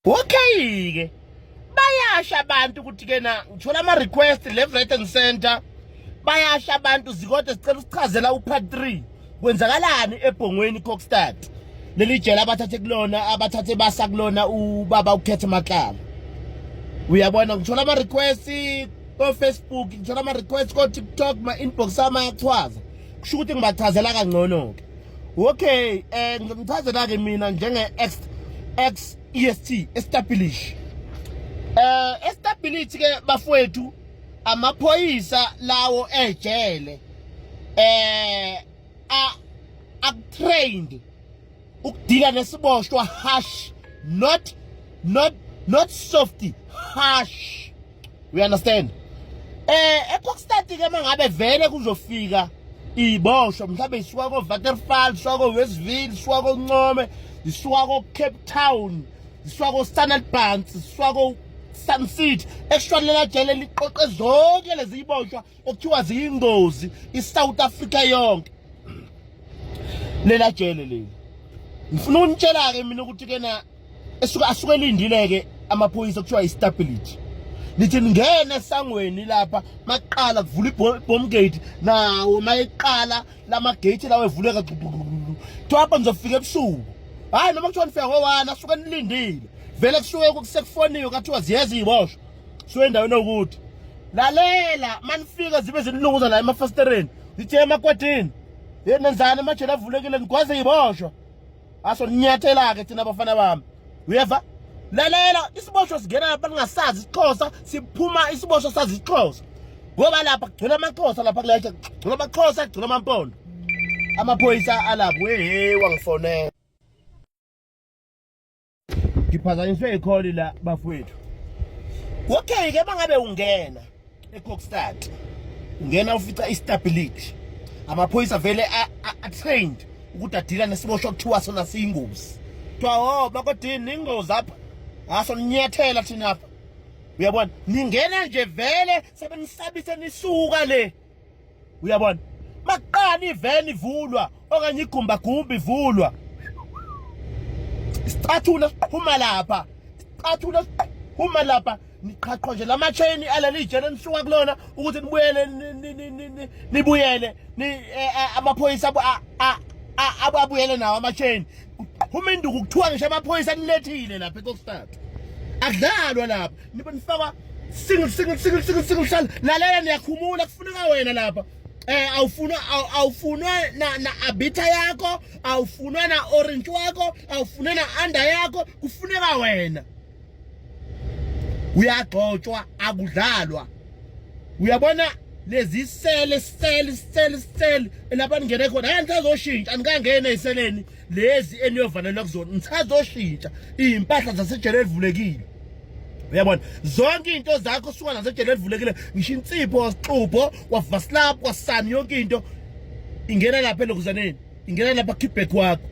Okay-ke bayasha abantu ukuthi kena ngithola ama request left right and center bayasha abantu zikode sicela usichazela upart 3 kwenzakalani ebhongweni Kokstad leli jela abathathe kulona abathathe basa kulona ubaba ukhethe matlala uyabona ngithola ama request ko Facebook ngithola ama request ko TikTok ma inbox ama yachaza kusho ukuthi ngibachazela kangcono ke okay eh ngimchazela ke mina njenge ex ex EST establish eh establish ke bafowethu amaphoyisa lawo ejele eh a akutrained ukudila nesiboshwa harsh not not not softy harsh we understand eh ePokstad ke mangabe vele kuzofika iboshwa mhlawumbe isuka ko Waterfall isuka ko Westville isuka ko Ncome isuka ko Cape Town isuka ko Standard Bank isuka ko Sun City eshwalela jele liqoqe zonke lezi iboshwa okuthiwa ziyingozi iSouth Africa yonke lela jele leli ngifuna unitshela ke mina ukuthi kena esuka asuke elindile ke amaphoyisa kuthiwa istability nithi ningena esangweni lapha maqala kuvula ibomb gate nawo mayiqala lama gate lawo evuleka kuthiwa apha ngizofika ebusuku hayi noma kuthiwa nifika ngowani asuke nilindile vele kusuke kusekufoniwe kathiwa ziyeza iboshwa so endaweni okuthi lalela manifika zibe zinilunguza la emafasitereni zithe emakwadini ye nenzani amajele avulekile nigwaze yiboshwa aso ninyathela-ke thina abafana bami uyeva lalela isiboshwa singena lapha ningasazi isixhosa siphuma isiboshwa sazi isixhosa ngoba lapha kugcwele amaxhosa lapha kulayisha kugcwele amaxhosa kugcwele amampondo amaphoyisa alapho wehe wangifonela ngiphazanyiswe ikholi la bafowethu okay ke bangabe ungena ecockstad ungena ufica istability amaphoyisa vele atrained ukuthi adila nesibosho kuthiwa sona siyingozi kuthiwa o oh, bakodini ingozi apha ngaso ninyathela thina apha uyabona ningena nje vele sebenisabise nisuka le uyabona makuqala iveni ivulwa okanye igumbagumba ivulwa isicathulo siqhuma lapha isicathulo siqhuma lapha niqhaqhwa nje lama chain aleli jele nisuka kulona ukuthi nibuyele nibuyele ni eh, eh, amaphoyisa ababuyele nawo ama chain uma induku kuthiwa ngisho amaphoyisa nilethile lapha ekokstad akudlalwa lapha nibe nifakwa single single single single single hlala lalela niyakhumula kufuneka wena lapha eh awufunwa awufunwa na na abitha yakho awufunwa na orange wakho awufunwa na under yakho kufuneka wena uyagxotshwa akudlalwa uyabona lezi sele sele sele sele lapha ningene khona hayi ngisazoshintsha anikangene eseleni lezi eniyovalelwa kuzona nisazoshintsha iy'mpahla zasejele elivulekile uyabona zonke into zakho suka nasejele elivulekile ngisho insipho wasixubho wavasilaphu wasani yonke into ingena lapha elokuzaneni ingena lapha kickback wakho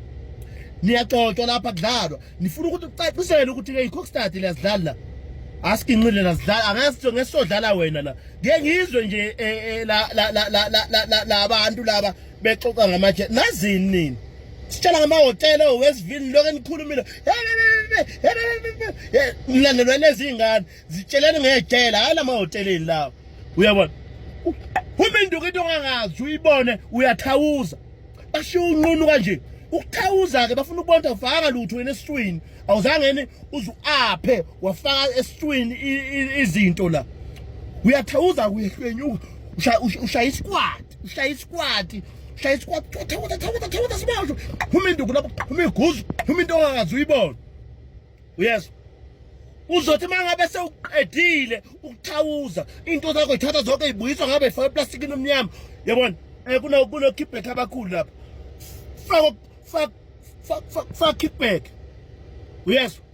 niyaxoxwa lapha kudlalwa nifuna ukuthi ucacisele ukuthi ke icockstad liyazidlala la asikinqile nazidlala angasitho ngesodlala wena la ngeke ngizwe nje eh, eh, la la la la la abantu laba bexoxa ngamaje nazini nini sitshela ngamahhotela owesivini lokho enikhulumile mlandelwa nezingane zitsheleni ngejele hhayi la mahoteleni lawo uyabona uma induku into ongangazi uyibone uyathawuza bashiya unqunu kanje ukuthawuza-ke bafuna ukubona ukuthi awufakanga lutho wena esiswini awuzange yini uzuaphe wafaka esitwini izinto la uyathawuza kuyehlenyuka ushaya isikwati ushaya isikwati ushaya isikwati thawuza thawuza thawuza sibasho phuma induku lapho phuma iguzu phuma into ongakazi uyibona yes uzothi mangabe sewuqedile ukuthawuza into zakho ithatha zonke ibuyiswa ngabe ifaka eplastikini omnyama yabona eh, kunokhiphetha abakhulu lapho faka fuck fuck fuck fuck it back uyezwa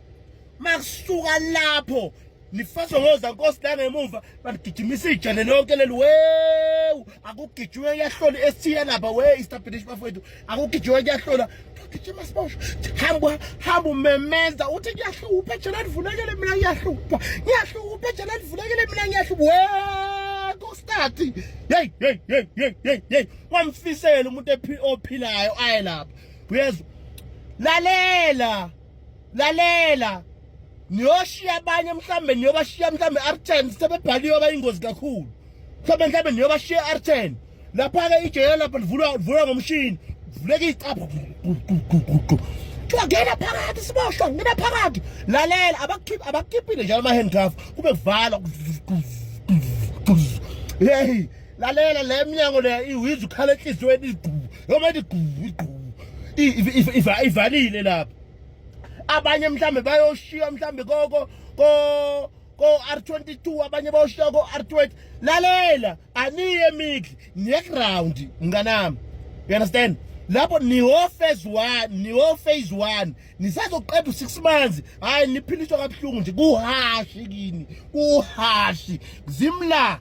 makusuka lapho nifaswa ngoza nkosi la ngemuva banigijimisa ijane lonke leli wewu akugijwe kuyahlolwa esithiya lapha we istabinish bafowethu akugijwe kuyahlolwa gijima sibosho hamba hamba umemeza uthi kuyahlupha ejana livulekele mina ngiyahlupha ngiyahlupha ejana livulekele mina ngiyahlupha we kostati yeyi yeyi yeyi yeyi yeyi kwamfisela umuntu ophilayo aye lapha uyezwa lalela lalela niyoshiya abanye mhlambe niyobashiya mhlambe arten sebebhaliwe abayingozi kakhulu mhlambe mhlambe niyobashiya arten lapha-ke ijele lapha livulwa livulwa ngomshini vuleka iyicapha ngena phakathi siboshwa ngena phakathi lalela abakhiphi abakhiphi njalo ama-handcuff kube kuvala hey lalela le mnyango le iwiza ukhala enhliziyweni igqubu noma ethi gqubu igqubu ivalile lapho abanye mhlambe bayoshiya mhlambe koko ko ko-r22 abanye bayoshiya ko-r20 lalela aniye emikli niyeground mnganami you understand lapho niwo-phase one niwo-phase one nisazoqeda u-six months hhayi niphiliswa kabuhlungu nje kuhashi kini kuhashi zimla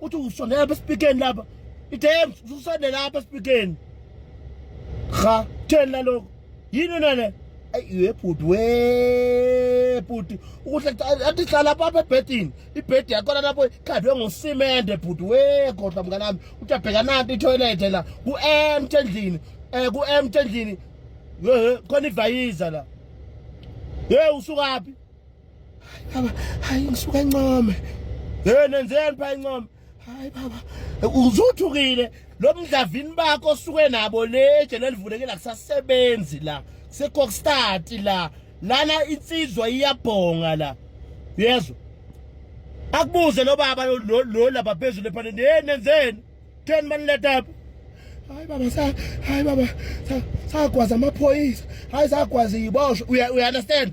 uthi usondela lapha esipikeni lapha idem usondela lapha esipikeni cha theni naloko yini nale ayiwe bhuti we bhuti ukuhle athi hlala papa ebhedini ibhedi yakhona lapho ikhandwe ngosimende bhuti we kodwa mngane wami uthi abheka nanti itoilet la ku-empty endlini um ku-empty endlini khona ivayiza la ye usukaphi baba hayi ngisuka encome hey nenzeni pha encome hayi baba uzuthukile lo mdlavini bakho osuke nabo leje lelivulekile akusasebenzi la sekokstart la lana insizwa iyabhonga la yezwa akubuze lo baba lo laba phezulu ephaneni hey nenzeni theni maniletha apha hayi baba sa hayi baba sagwaza amaphoyisa hayi sagwaza iyiboshwe uya understand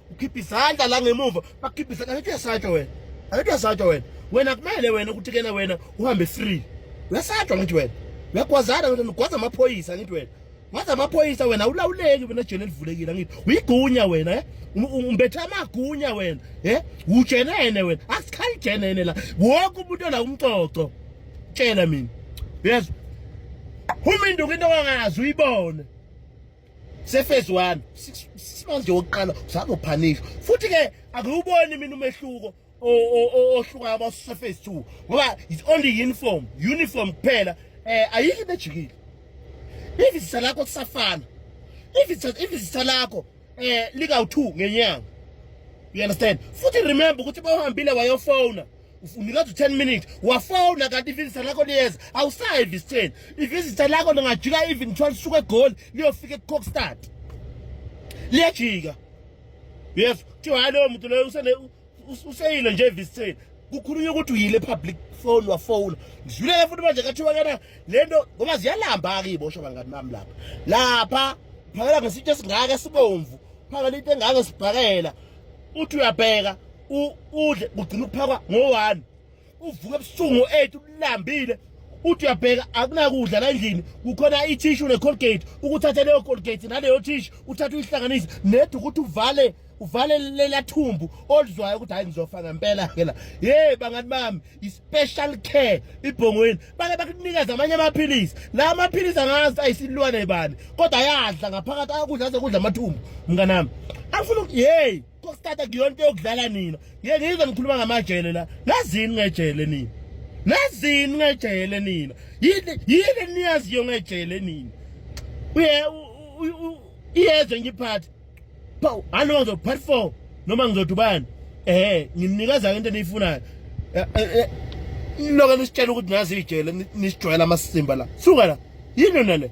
ukhipha izandla la ngemuva bakhipha izandla angithi uyasatshwa wena angithi uyasatshwa wena wena kumele wena ukuthi kena wena uhambe free uyasatshwa ngithi wena uyagwazana wena ugwaza amaphoyisa ngithi wena waze amaphoyisa wena ulawuleki wena ejele elivulekile ngithi uyigunya wena eh umbethe amagunya wena eh ujenene wena asikhali jenene la wonke umuntu la umcoco tshela mina yes uma induku into ongazi uyibone sefezi wami simonje wokuqala uzama uphanisha futhi ke akuwuboni mina umehluko ohlukayo abasefezi 2 ngoba it's only uniform uniform kuphela eh ayikho bejikile ivisa lakho kusafana ivisa ivisa lakho eh lika u2 ngenyanga you understand futhi remember ukuthi bawuhambile wayofona unikeza u-10 minutes wafona kanti ivisita lakho liyeza awusayi evisiteni ivisita lakho lingajika even kuthiwa lisuke egoli liyofika ekucockstad liyajika yes kuthiwa hayi loyo muntu loyo useyile nje evisiteni kukhulunywa ukuthi uyile public phone wafowuna ngidlulele futhi manje kathiwa kana le nto ngoba ziyalamba-ke iy'bosho bangani bami lapha lapha phakela ngesitsho esingaka esibomvu phakela into engaka esibhakela uthi uyabheka udle kugcina ukuphakwa ngo-one uvuke ebusuku ngo-eight ulambile uthi uyabheka akunakudla la endlini kukhona ithishu ne-colgate ukuthathe leyo colgate naleyo thishu uthathe uyihlanganise nedi ukuthi uvale uvale lela thumbu olizwayo ukuthi hayi ngizofa ngempela-ke la yeyi bangani bami i-special care ibhongweni bake bakunikeza amanye amaphilisi la amaphilisi angazi ayisilwane bani kodwa ayadla ngaphakathi ayakudla aze kudla amathumbu mnganami angifuna ukuthi yeyi kokusithatha kuyonto yokudlala nina ye ngizwe nikhuluma ngamajele la nazini ngejele nina nazini ngejele nina yini yini niyaziyo ngejele nina uye iyezwe ngiphathe Paw, halo ngizo part 4 noma ngizothi ubani? Eh, ngimnikeza into eniyifunayo. Eh, eh, eh. Noke nisitshela ukuthi nazi ijele nisijwayela amasimba la. Suka la. Yini nale?